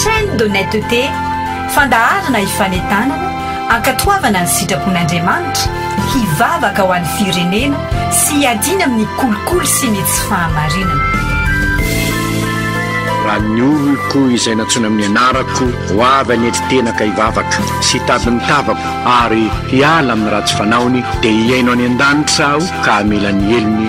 Chaîne d'honnêteté, fandaharana hifanentanana, hankatoavana ny sitrapon'Andriamanitra, hivavaka ho an'ny firenena sy hiadiana amin'ny kolikoly sy ny tsy fahamarinana. Raha ny oloko izay nantsoina amin'ny anarako ho avy any an-titenaka hivavaka sy hitady ny tavako ary hiala amin'ny ratsy fanaony, dia hihaino any an-danitra aho ka hamela ny helony,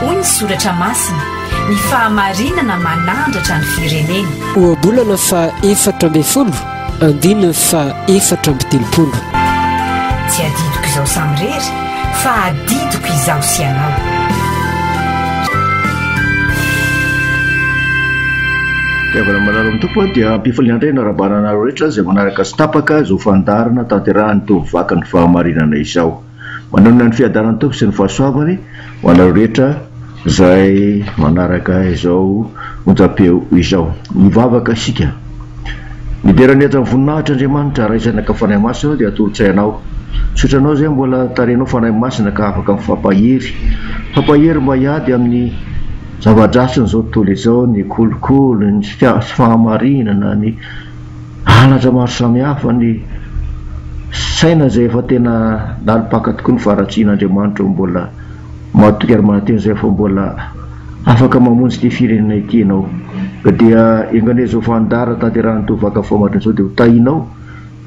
Hoy ny soratra masina, ny fahamarinana manandratra ny firenena. Ohabolana faha efatra ambin'ny folo, andininy faha efatra amby telopolo. Tsy adidiko izao samirery. Fa adidiko izaho sy ianao. Fitiavana manaraka ny Tompo dia ampifaliana indray hanarabana anareo rehetra izay manaraka sy tapaka izao fandaharana tanterahany teo amin'ny vakan'ny fahamarinana izao. Manonona ny fiadanan'ny Tompo sy ny fahasoavany ho anareo rehetra Izay manaraka izao onjam-peo izao. Hivavaka isika. Midera ny hajan'ny voninahitra Andriamanitra, Ray, Zanaka, Fanahy Masina, Ianao dia atolotsay Anao. Misaotra Anao izay mbola tarehinao Fanahy Masina ka afaka mifampahery. Mifampahery mba hiady amin'ny zava-dratsin'izao tontolo izao, ny kolikoly, ny tsy fahamarinana, ny halatra maro samihafa, ny saina izay efa tena nalopaka tokoa ny faharatsian'Andriamanitra mbola. Matoky ary mahateny izay fa mbola afaka mamonjy ity firenena ity ianao ka dia enga izao fandara tanterahan'itony vaka fambatra izao dia ho tahinao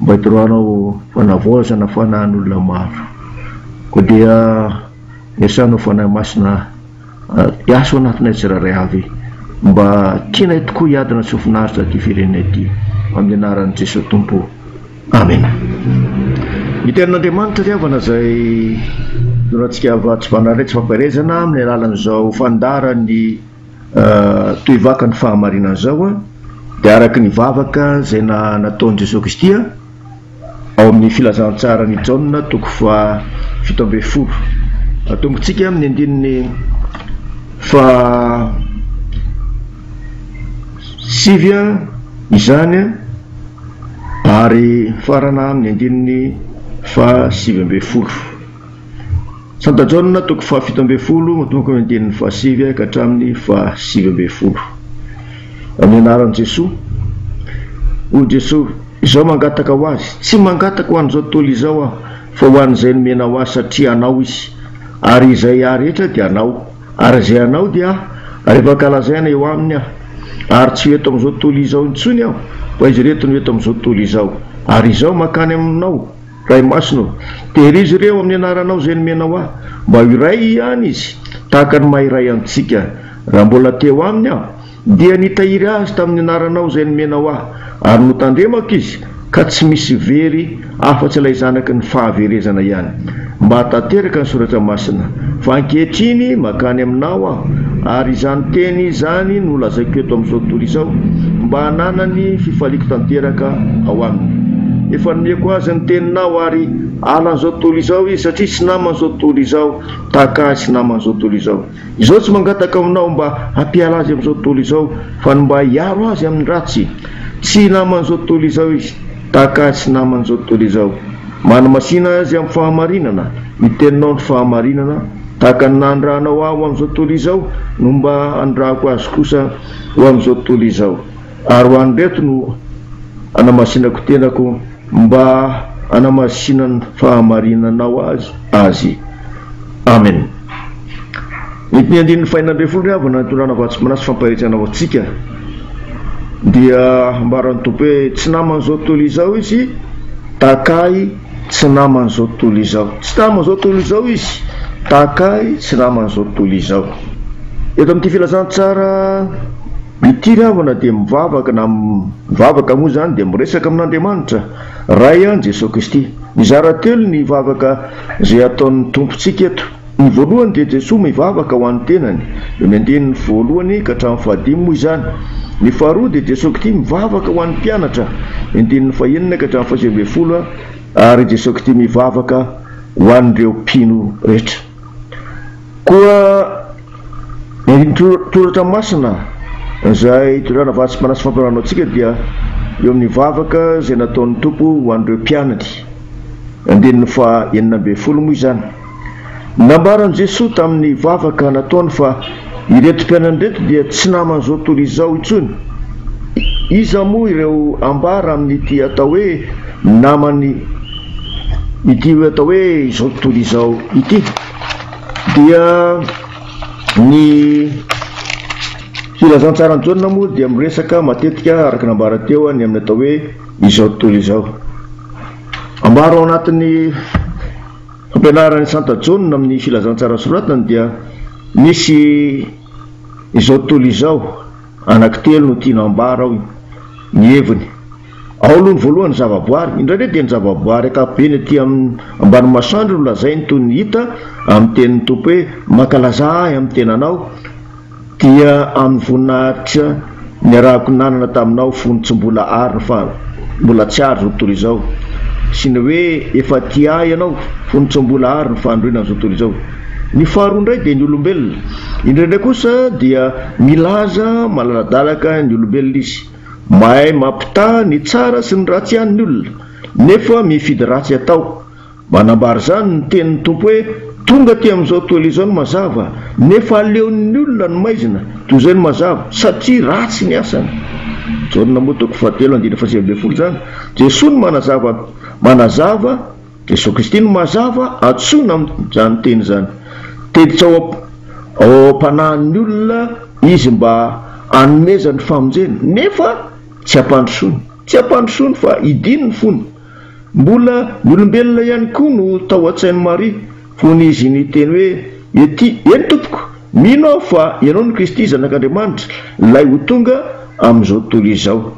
mba hitoroanao fanavaozana fanahin'olona maro koa dia iasanao Fanahy Masina hiasa ao anatinay tsirairay avy mba tianay tokoa hiadana tsy ho finaritra ity firenena ity amin'ny anaran'i Jesoa Tompo Amena. Ny Tenin'Andriamanitra ry havana izay norahantsika Avats Banarex Fampaherezana amin'ny alalan'izao fandaharan'ny tohivakan'ny fahamarinana izao dia araka ny vavaka izay nataon'i Jesoa Kristy ao amin'ny Filazantsaran'i Jaona toko faha fito ambin'ny folo. Atombontsika amin'ny andininy faha sivy izany. Ary mifarana amin'ny andininy faha sivy ambin'ny folo. Santa Jaona, toko faha fito ambin'ny folo, manomboka amin'ny andininy faha sivy ka hatramin'ny faha sivy ambin'ny folo. Amin'ny anaran'i Jesoa, hoy Jesoa, izao mangataka ho Azy, Tsy mangataka ho an'izao tontolo izao Aho, fa ho an'izay nomena ho Ahy satria Anao izy, ary izay Ahy rehetra dia Anao. Ary izay hanao dia aho, rehefa ankalazaina eo aminy aho. Ary tsy ho eto amin'izao tontolo izao intsony aho, fa izy ireto no eto amin'izao tontolo izao. Ary izaho mankany aminao, Ray Masina ô, tehirizo ireo amin'ny anaranao izay nomenao ahy, mba ho iray ihany izy, tahaka ny maha iray antsika. Raha mbola te ho aminy aho, Dia nitahiry azy tamin'ny anaranao izay nomenao ahy, ary notandremako izy, ka tsy misy very afa-tsy ilay zanaky ny fahaverezana ihany, mba hahatanteraka ny soratra masina. Fa ankehitriny mankany aminao aho, ary izany teny izany no lazaiko eto amin'izao tontolo izao, mba hananany fifaliako tanteraka ao aminy. Efa nomeko azy ny teninao, ary halan'izao tontolo izao izy, satria tsy naman'izao tontolo izao, tahaka ahy tsy naman'izao tontolo izao. Izaho tsy mangataka aminao mba hampiala azy amin'izao tontolo izao, fa ny mba hiaro azy amin'ny ratsy. Tsy naman'izao tontolo izao izy, tahaka ahy tsy naman'izao tontolo izao. Manamasina azy amin'ny fahamarinana, ny teninao no fahamarinana, tahaka ny nandrahanao ahy ho amin'izao tontolo izao, no mba handrahako azy kosa ho amin'izao tontolo izao. Ary ho an'ireto no anamasinako tenako mba hanamasinan' fahamarinanao azy azy. Amen. Ny ny andininy fahenina ambin'ny folo ry havana ny tondrana vatsim-panahy sy fampaherezana ho antsika dia ambaran'ny Tompo hoe tsy naman'izao tontolo izao izy tahaka ahy tsy naman'izao tontolo izao tsy naman'izao tontolo izao izy tahaka ahy tsy naman'izao tontolo izao eto amin'ity filazantsara Ity ravana dia mivavaka na mivavaka moa izany dia miresaka amin'Andriamanitra Ray an Jesoa Kristy. Mizara telo ny vavaka izay ataon'ny Tompontsika eto. Ny voalohany dia Jesoa mivavaka ho an'ny tenany, eo ny andininy voalohany ka hatramin'ny fahadimy moa izany. Ny faharoa dia Jesoa Kty mivavaka ho an'ny mpianatra, andininy fahenina ka hatramin'ny fahasivy ambin'ny folo ary Jesoa Kty mivavaka ho an'ireo mpino rehetra. Koa ny toratra masina izay itondrana vatsim-panahy sy fampianarana antsika dia eo amin'ny vavaka izay nataon'ny Tompo ho an'ireo mpianany. Andininy faha enina ambin'ny folo moa izany. Nambaran'i Jesoa tamin'ny vavaka nataony fa ireto mpianany ireto dia tsy naman'izao tontolo izao intsony. Iza moa ireo ambara amin'ity atao hoe namany ity hoe atao hoe izao tontolo izao ity? Dia ny Filazantsaran'i Jaona moa dia miresaka matetika araka ny nambara teo ny amin'ny atao hoe izao tontolo izao. Ambara ao anatin'ny fampianaran'i Santa Jaona amin'ny Filazantsara soratany dia misy izao tontolo izao anankitelo no tiana ambara ao ny heviny. Ao aloha ny voalohany ny zavaboary, indraindray dia ny zavaboary ankapobeny aty amin'ny ambany masoandro no lazainy toy ny hita amin'ny tenin'ny Tompo hoe mankalaza ahy amin'ny tenanao dia amin'ny voninahitra niarahako nanana taminao fony tsy mbola ary fa mbola tsy ary zao tontolo izao sy ny hoe efa tia ahy ianao fony tsy mbola ary ny fandroina ny zao tontolo izao. Ny faharoa indray dia ny olombelona, indraindray kosa dia milaza malaladalaka ny olombelona izy. Mahay mampitaha ny tsara sy ny ratsy ihany ny olona, nefa mifidy ratsy atao. Manambara izany ny tenin'ny Tompo hoe, Tonga aty amin'izao toela izao ny mazava, nefa aleon'ny olona ny maizina toy izay ny mazava, satria ratsy ny asany. Jaona moa toko fahatelo andininy fahasivy ambin'ny folo izany. Jesoa no manazava, manazava. Jesoa Kristy no mazava antsoina amin'izany teny izany. Tezitra ao ao am-panahin'ny olona Izy mba hanomezany famonjena, nefa tsy hampandrosoany. Tsy hampandrosoany fa hidiany ny fony. Mbola ny olombelona ihany koa no tao an-tsain'i Maria, fony Izy niteny hoe, Ety, eny Tompoko, mino aho fa Ianao no Kristy, Zanak'Andriamanitra, Ilay ho tonga amin'izao tontolo izao.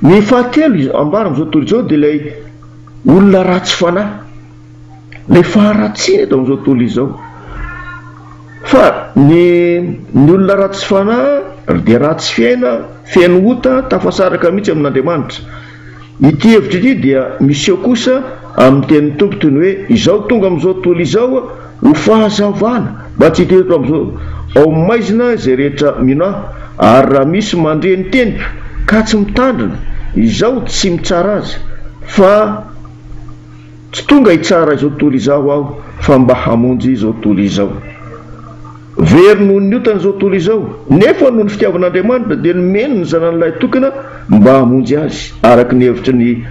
Ny fahatelo ambara amin'izao tontolo izao dia ilay Olona ratsy fanahy le faharatsiana eto amin'izao tontolo izao. Fa ny ny olona ratsy fanahy ry dia ratsy fiaina, feno ota, tafasaraka mihitsy amin'Andriamanitra. Ity hevitra ity dia miseho kosa amin'ny tenin'ny Tompo toy ny hoe izao tonga amin'izao tontolo izao Ho fahazavana, mba tsy hita eto amin'izao, ao maizina izay rehetra mino ahy, ary raha misy mandre ny teniko ka tsy mitandrina, izaho tsy mitsara azy, fa tsy tonga hitsara izao tontolo izao aho, fa mba hamonjy izao tontolo izao. Very noho ny otany izao tontolo izao, nefa noho ny fitiavan'Andriamanitra dia nomeny ny Zanany lahy tokana mba hamonjy azy. Araka ny hevitry ny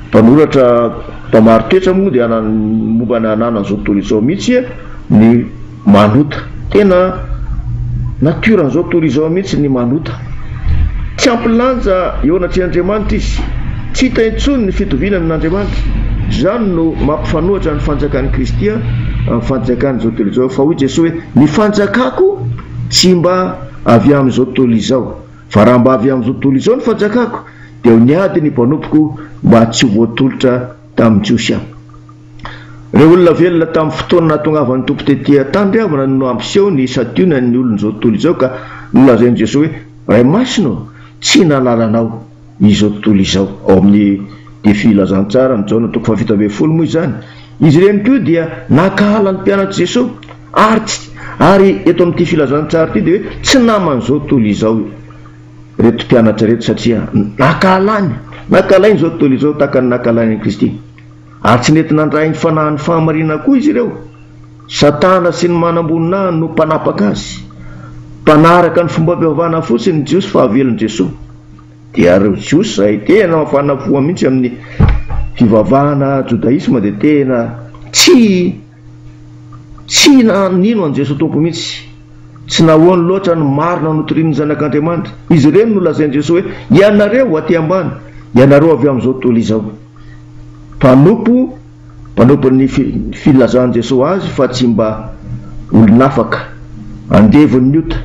mpanoratra mpamaro toetra moa dia momba ny hananan'izao tontolo izao mihitsy ny manota. Tena natiora an'izao tontolo izao mihitsy ny manota. Tsy ampy lanja eo anatrehan'Andriamanitra izy. Tsy hita intsony ny fitoviany amin'Andriamanitra. Izany no mampifanohitra ny fanjakan'i Kristy amin'ny fanjakan'izao tontolo izao. Fa hoy Jesoa hoe, Ny fanjakako tsy mba avy amin'izao tontolo izao. Fa raha mba avy amin'izao tontolo izao ny fanjakako, dia ho niady ny mpanompoko mba tsy ho voatolotra tamin'ny Jiosy aho. Ireo olona velona tamin'ny fotoana nahatongavan'ny Tompo tetỳ an-tany re havana no hampiseho ny santionan'ny olon'izao tontolo izao ka nolazain'i Jesoa hoe, Ray Masina ô, tsy nahalala Anao izao tontolo izao. Ao amin'ny Dia Filazantsaran'i Jaona toko fahafito ambin'ny folo moa izany. Izy ireny koa dia nankahala ny mpianatr'i Jesoa ary tsy ary eto amin'ity filazantsara ity dia hoe tsy naman'izao tontolo izao ireto mpianatra ireto satria nankahalany nankahalany izao tontolo izao tahaka ny nankahalainy an'i Kristy. Ary tsy nety nandray ny fanahin'ny fahamarinana koa izy ireo. Satana sy ny manamboninahiny no mpanapaka azy. Mpanaraka ny fombam-pivavahana fotsiny ny Jiosy fa havelin'i Jesoa. Dia ireo Jiosy izay tena mafana fo mihitsy amin'ny fivavahana jodaisma dia tena tsy. Tsy nino an'i Jesoa Tompo mihitsy. Tsy nahoany loatra ny marina notorian'ny Zanak'Andriamanitra. Izy ireny no lazain'i Jesoa hoe, Ianareo aty ambany, ianareo avy amin'izao tontolo izao. Mpanompo, mpanompon'ny filazan'i Jesoa azy fa tsy mba olon'afaka, andevon'ny ota.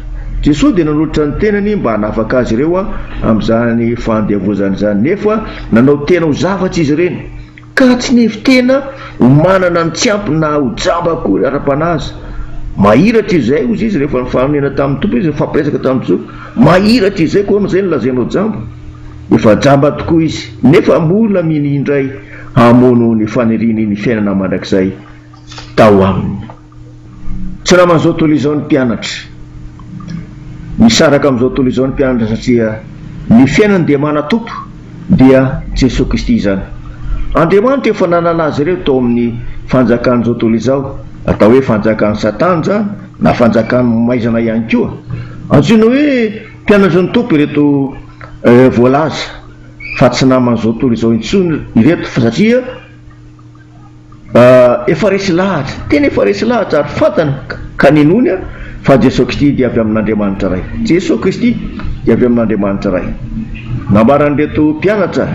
Jesoa dia nanolotra ny tenany mba hanafaka azy ireo amin'izany fandiavozana izany, nefa nanao tena ho zavatra izy ireny. Ka tsy nivy tena ho manana ny tsy ampy na ho jamba akory ara-panahy aza. Mahiratra izay, hoy izy, rehefa nifanonena tamin'ny Tompo izy, nifampiresaka tamin'i Jesoa. Mahiratra izay, koa amin'izay no lazainao jamba? Efa jamba tokoa izy. Nefa mbola mino indray hamono ny faniriany ny fiainana mandrakizay tao aminy. Tsy naman' izao tontolo izao ny mpianatra. Misaraka amin' izao tontolo izao ny mpianatra satria ny fiainany dia manatompo, dia Jesoa Kristy izany. Andriamanitra efa nanala azy ireo tao amin' ny fanjakan' izao tontolo izao, atao hoe fanjakan' i Satana izany na fanjakan' ny maizana ihany koa. Antsoina hoe mpianatry ny Tompo ireto voalaza fa tsy naman' izao tontolo izao intsony ireto fa satria. Efa resy lahatra, tena efa resy lahatra ary fantany ka ninoany fa Jeso Kristy dia avy amin'Andriamanitra Ray. Jeso Kristy dia avy amin'Andriamanitra Ray. Nambaran'ireto mpianatra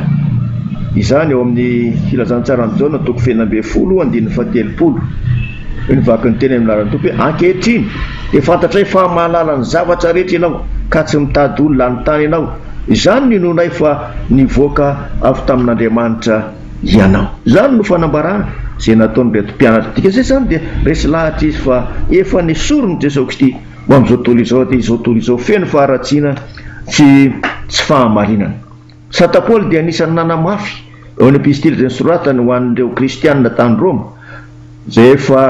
izany ao amin'ny Filazantsaran'i Jaona toko fahefatra ambin'ny folo andininy fahatelopolo. Hoy ny vakin'ny teny amin'ny anaran'ny Tompo hoe, Ankehitriny dia fantatray fa mahalala ny zavatra rehetra Ianao ka tsy mitady olona hanontany Anao. Izany no inoanay fa nivoaka avy tamin'Andriamanitra. ianao. Izany no fanambarana izay nataon'ireto mpianatra. Dikaze izany dia resy lahatra izy fa efa nesorin'i Jesoa Kristy ho amin'izao tontolo izao dia izao tontolo izao feno faharatsiana sy tsy fahamarinana. Santa Paoly dia anisan'ny nanamafy eo amin'ny epistily izay nosoratany ho an'ireo kristiana tany Roma izay efa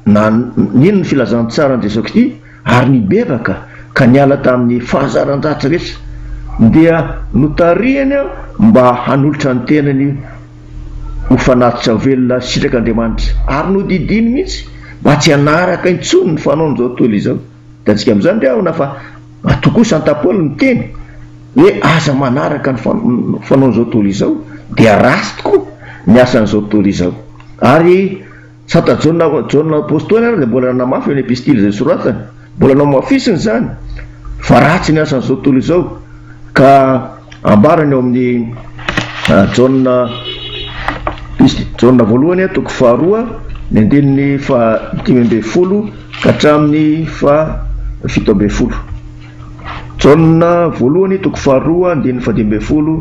na nino ny filazantsaran'i Jesoa Kristy ary nibebaka ka niala tamin'ny fahazaran-dratsy rehetra, dia notarihiny mba hanolotra ny tenany ho fanatitra velona sitrak'Andriamanitra, ary nodidiany mihitsy mba tsy hanaraka intsony ny fanaon'izao tontolo izao. Hitantsika amin'izany ve ahona fa matoa koa Santa Paoly niteny hoe aza manaraka ny fanaon'izao tontolo izao, dia ratsy tokoa ny asan'izao tontolo izao. Ary Sa ta Jaona Jaona Apostoly ary dia mbola nanamafy eo ny epistily izay soratany? Mbola nohamafisiny izany fa ratsy ny asan'izao tontolo izao ka ambarany ao amin'ny Jaona Jaona voalohany toko faharoa ny andininy faha dimy ambin'ny folo ka hatramin'ny faha fito ambin'ny folo. Jaona voalohany toko faharoa andininy fahadimy ambin'ny folo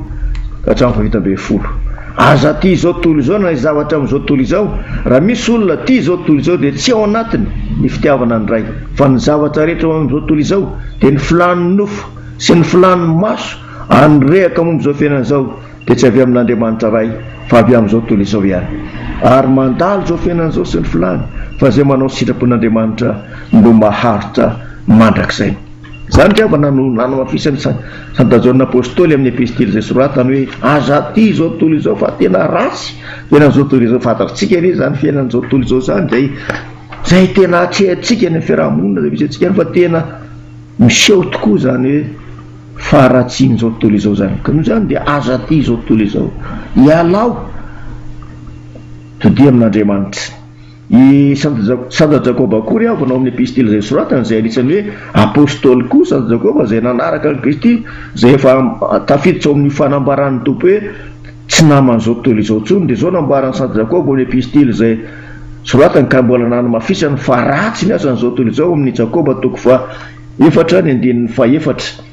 ka hatramin'ny fahafito ambin'ny folo. Aza aty izao tontolo izao na ny zavatra amin'izao tontolo izao. Raha misy olona tia izao tontolo izao dia tsy ao anatiny ny fitiavana ny Ray. Fa ny zavatra rehetra ao amin'izao tontolo izao dia ny filàn'ny nofo sy ny filàn'ny maso ary ny rehaka momba izao fiainana izao dia tsy avy amin'Andriamanitra Ray, fa avy amin'izao tontolo izao ihany. Ary mandalo izao fiainana izao sy ny filany, fa izay manao ny sitrapon'Andriamanitra no maharitra mandrakizay. Izany ny havana no nanamafisan'i Santa Jaona Apostoly amin'ny Epistily izay soratany hoe, Aza tia izao tontolo izao, fa tena ratsy ny fiainan'izao tontolo izao. Fantatritsika ve izany fiainan'izao tontolo izao izany, izay, izay tena atrehintsika any amin'ny fiaraha-monina izay misy antsika any, fa tena miseho tokoa izany hoe, Faharatsian'izao tontolo izao izany ka noho izany dia aza aty izao tontolo izao. Ialao, todia amin'Andriamanitra. I Santa Jakoba koa ry havana ao amin'ny epistily izay soratany izay anisan'ny hoe Apostoly koa Santa Jakoba izay nanaraka an'i Kristy izay efa tafiditra ao amin'io fanambaran'ny Tompo hoe tsy naman'izao tontolo izao intsony dia izao nambaran'i Santa Jakoba ao amin'ny epistily izay soratany ka mbola nanamafisany fa ratsy ny asan'izao tontolo izao ao amin'ny Jakoba toko faha efatra ny andininy fahefatra.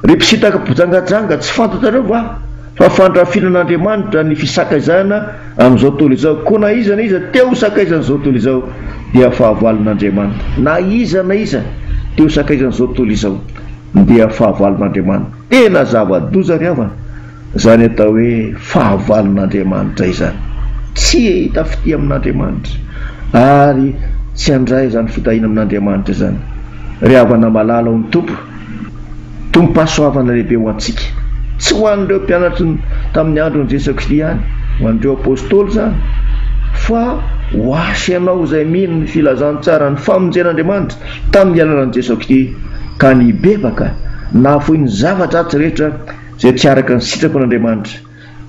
Ry mpisintaka mpijangajanga, tsy fantatrareo va fa fandrafinan'Andriamanitra ny fisakaizana amin'izao tontolo izao? Koa na iza na iza te ho sakaizan'izao tontolo izao dia fahavalon'Andriamanitra. Na iza na iza te ho sakaizan'izao tontolo izao dia fahavalon'Andriamanitra. Tena zava-doza ry havana Izany atao hoe fahavalon'Andriamanitra izany. Tsy hahita fitia amin'Andriamanitra ary tsy handray izany fitahiana amin'Andriamanitra izany ry havana malala ao amin'ny Tompo. Tompom-pahasoavana lehibe ho antsika. Tsy ho an'ireo mpianatry ny tamin'ny andron'i Jesoa Kristy ihany, ho an'ireo Apostoly izany, fa ho ahy sy ianao izay mino ny filazantsaran'ny famonjen'Andriamanitra tamin'ny alalan'i Jesoa Kristy ka nibebaka, nahafoy ny zava-dratsy rehetra, izay tsy araka ny sitrapo an'Andriamanitra,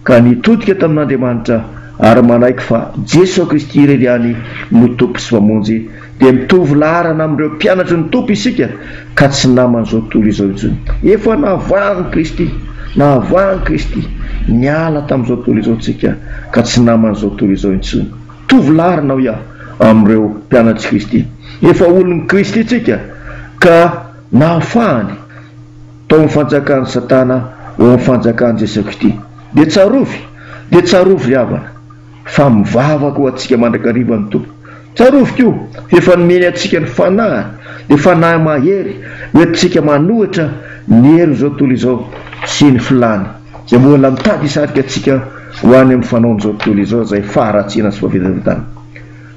ka nitodika tamin'Andriamanitra ary manaiky fa Jeso Kristy irery ihany no Tompo sy Mpamonjy, dia mitovy laharana amin'ireo mpianatry ny Tompo isika ka tsy naman'izao tontolo izao intsony. Efa nahavahan'i Kristy, nahavahan'i Kristy, niala tamin'izao tontolo izao tsika ka tsy naman'izao tontolo izao intsony. Mitovy laharana, hoy aho, amin'ireo mpianatr'i Kristy. Efa olon'i Kristy tsika ka nahafahany. tao amin'ny fanjakan'i Satana ho amin'ny fanjakan'i Jesoa Kristy. Dia tsarovy, dia tsarovy ry havana, fa mivavaka ho antsika mandrakariva ny Tompo. Tsarovy koa, fa efa nomeny antsika ny Fanahiny, dia Fanahy mahery hoentintsika manohitra ny herin'izao tontolo izao sy ny filàny, izay mbola mitady hisarika antsika ho any amin'ny fanaon'izao tontolo izao izay faharatsiana sy fahavelombelomtany.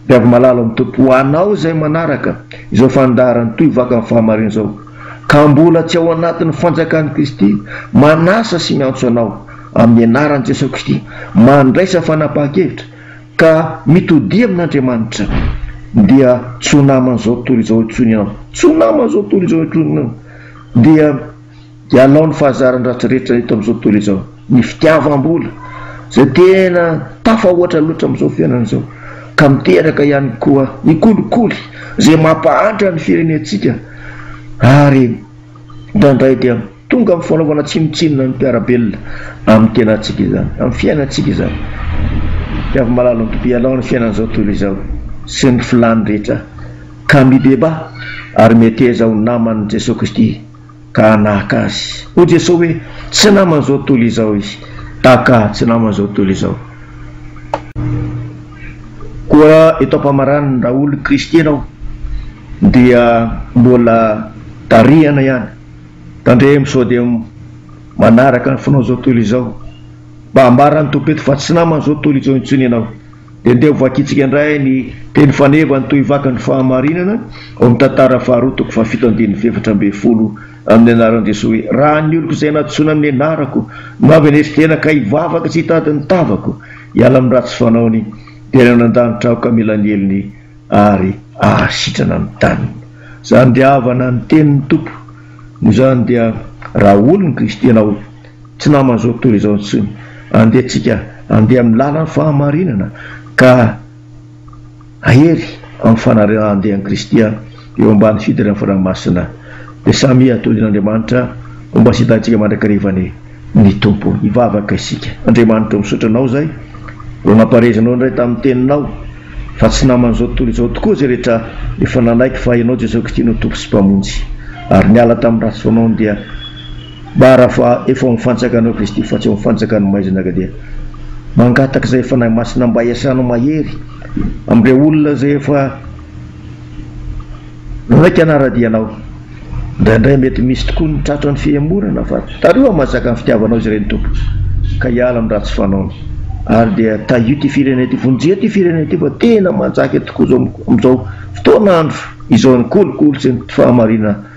Mpiavy malalo amin'ny Tompo ho anao izay manaraka izao fandaharany toy vaka ny fahamarinana izao ka mbola tsy ao anatin'ny fanjakan'i Kristy, manasa sy miantso anao amin'ny anaran'i Jesoa Kristy, mandraisa fanapahan-kevitra ka mitodia amin'Andriamanitra dia tsy ho naman'izao tontolo izao intsony ianao, tsy ho naman'izao tontolo izao intsony ianao dia. Dia hanao ny fahazaran-dratsy rehetra eto amin'izao tontolo izao. Ny fitiavam-bola, izay tena tafahoatra loatra amin'izao fiainana izao, ka miteraka ihany koa ny kolikoly, izay mampahantra ny firenentsika, ary indraindray dia tonga amin'ny fanaovana tsinontsinona ny mpiara-belona amin'ny tenantsika izany, amin'ny fiainantsika izany. Dia avy mahalala ny Tompo ianao ny fiainan'izao tontolo izao sy ny filàny rehetra, ka mibebaha ary meteza ho naman'i Jesoa Kristy. ka naka azy. Hoy Jesoa hoe, Tsy naman'izao tontolo izao izy. DK, Tsy naman'izao tontolo izao. Koa eto am-pamaranana, raha olon'i Kristy ianao, dia mbola tarihana ihany. Tandremo sao dia manaraka ny fanaon'izao tontolo izao. Mba ambara ny Tompo eto fa tsy naman'izao tontolo izao intsony ianao. Dia andeha ho vakintsika indray ny teny faneva ny tohivakan'ny fahamarinana ao amin'ny Tantara faharoa toko fahafito andininy efatra ambin'ny folo amin'ny anaran'i Jesoa hoe, Raha ny oloko izay nahadisoana amin'ny anarako no avy any Esitena ka hivavaka sy hitady ny tavako hiala amin'ny ratsy fanaony dia any anan-danitra aho ka mila ny helony ary hahasitrana ny taniny. Izany dia havana ny tenin'ny Tompo. Noho izany dia raha olon'i Kristy ianao, Tsy naman'izao tontolo izao intsony. Andeha tsika handeha amin'ny lalan'ny fahamarinana ka hahery amin'ny fanarahan-dehan'i Kristy eo ambany fidiran'ny Fanahy Masina. Dia samia atodin' Andriamanitra ho mba sitantsika mandrakarivan'ny ny Tompo. Hivavaka isika. Andriamanitra o, misaotra Anao izay vao nampaharezinao indray tamin'ny Teninao fa tsy naman'izao tontolo izao tokoa izay rehetra efa nanaiky fa Ianao Jesosy Kristy no Tompo sy Mpamonjy ary niala tamin'ny ratsy fanaony dia Bara fa efa ao am fantsaka anao Kristy fa tsy ao am fantsaka ny maizina ka dia mangataka izay Fanahy Masina mba hiasana mahery amin'ireo olona izay efa nanaiky hanara-dia anao. Indraindray mety misy tokoa ny tratran'ny fihemorana fa tario hamazaka ny fitiavanao izy ireny Tompo ka hiala amin'ny ratsy fanaony ary dia tahio ity firenena ity. Vonjeo ity firenena ity fa tena manjaka tokoa izao amin'izao fotoana andro izao ny kolikoly sy ny tsy fahamarinana.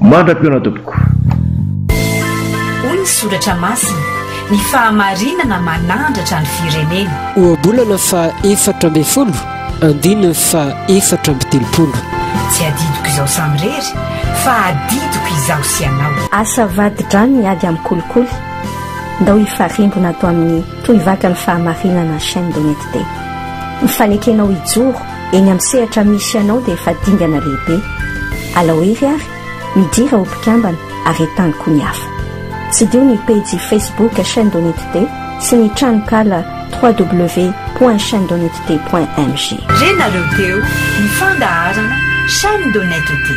Mandra-pihaona tompoko. Hoy ny Soratra Masina, Ny fahamarinana manandratra ny firenena. Ohabolana faha efatra ambin'ny folo, andiana faha efatra amby telopolo. Tsy adidiko izaho samirery, fa adidiko izaho sy ianao. Asa vadi-drano ny ady amin'ny kolikoly, ndao hifarimbona ato amin'ny Tohivakan'ny Fahamarinana Chaîne d'Honnêteté. Mifanekena ho hijoro Eny amin'ny sehatra misy anao dia efa dingana lehibe. Alao hery ary, midira ho mpikambana ary entano koa ny hafa. Tsidiho ny pejy Facebook Chaîne d'honnêteté sy ny tranonkala www.chainedhonnetete.mg. Renareo teo ny fandaharana Chaîne d'honnêteté.